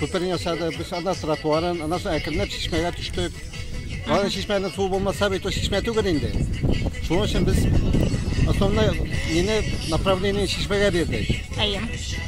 Күперне ясады, без анда тротуарын, аннан соң әкренләп чишмәгә төштек. Аны чишмәнең суы булмаса бит ул чишмә түгел инде. Шуның өчен без основной нене направление чишмәгә бирдек. Әйе.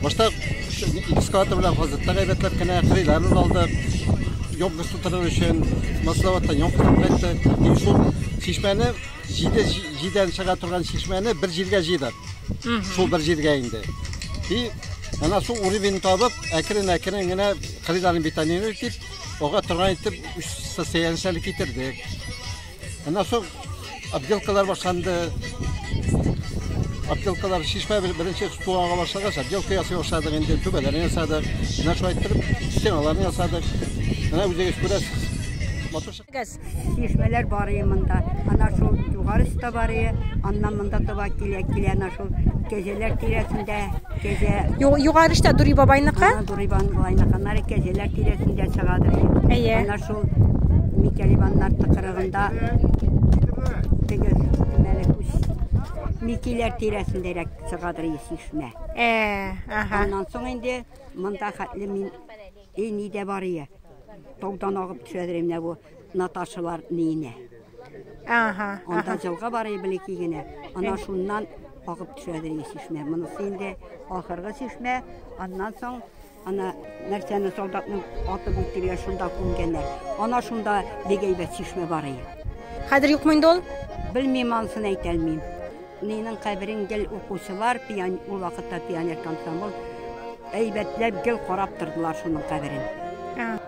Башта экскаватор белән газетта гайбәтләп кенә кырыйлар алдык. Ёмкасы тутырыр өчен масловаттан ёмкадан кайтты. И шул чишмәне җиде җидән чыга торган чишмәне бер җиргә җыйдык. Шул бер җиргә инде. И Әнә су уровень табып, әкрен-әкрен генә кырыйларын бетонировать итеп, ага торган итеп үс состояниесе әле китердек. Әнә соң отделкалар башланды. Отделкалар шишмә бер- беренче су ага башлагач, отделка ясый башладык инде, түбәләрен ясадык. Менә шулай иттереп стеналарны ясадык. Менә үзегез күрәсез. Матур чык- Чишмәләр бар ие монда. Ана шул югары өстә бар ие. Аннан монда таба килә, килә ана шул кәҗәләр тирәсендә. Кәҗә. Югары өстә Дури бабайныкы? Дури бабайныкы. Аннары кәҗәләр тирәсендә чыгадыр. Әйе. Ана шул Микәлибаннар тыкырыгында теге мәлек Микиләр тирәсендәрәк чыгадыр чишмә. Э, ага. Аннан соң инде монда хәтле мин И ни дә бар ие. Таудан агып төшәдер менә бу Наташалар ниенә. Ага. Анда җылга бар ие белеки генә. Ана шуннан агып төшәдер ие чишмә. Монысы инде ахыргы чишмә. Аннан соң ана нәрсәне солдатның атып үтергән шунда күмгәннәр. Ана шунда бик әйбәт чишмә бар ие. Хәзер юкмы инде ул? Белмим анысын әйтә алмыйм. Минең каберем гел укучылар, пиан, ул вакытта пионер комсомол, әйбәтләп гел карап тордылар шуның каберен.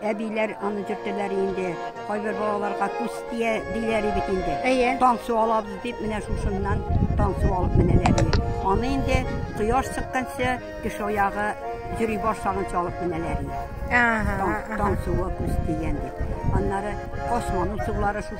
Әбиләр аны төртәләр инде, кайбер балаларга күз тия диләр бит инде. Әйе. Таң су алабыз дип, менә шушыннан таң су алып менәләр иде. Аны инде кояш чыкканчы, кеше аягы йөри башлаганчы алып менәләр иде. Ага, Таң, ага. таң суы күз тигән дип. Аннары косманың сулары шушы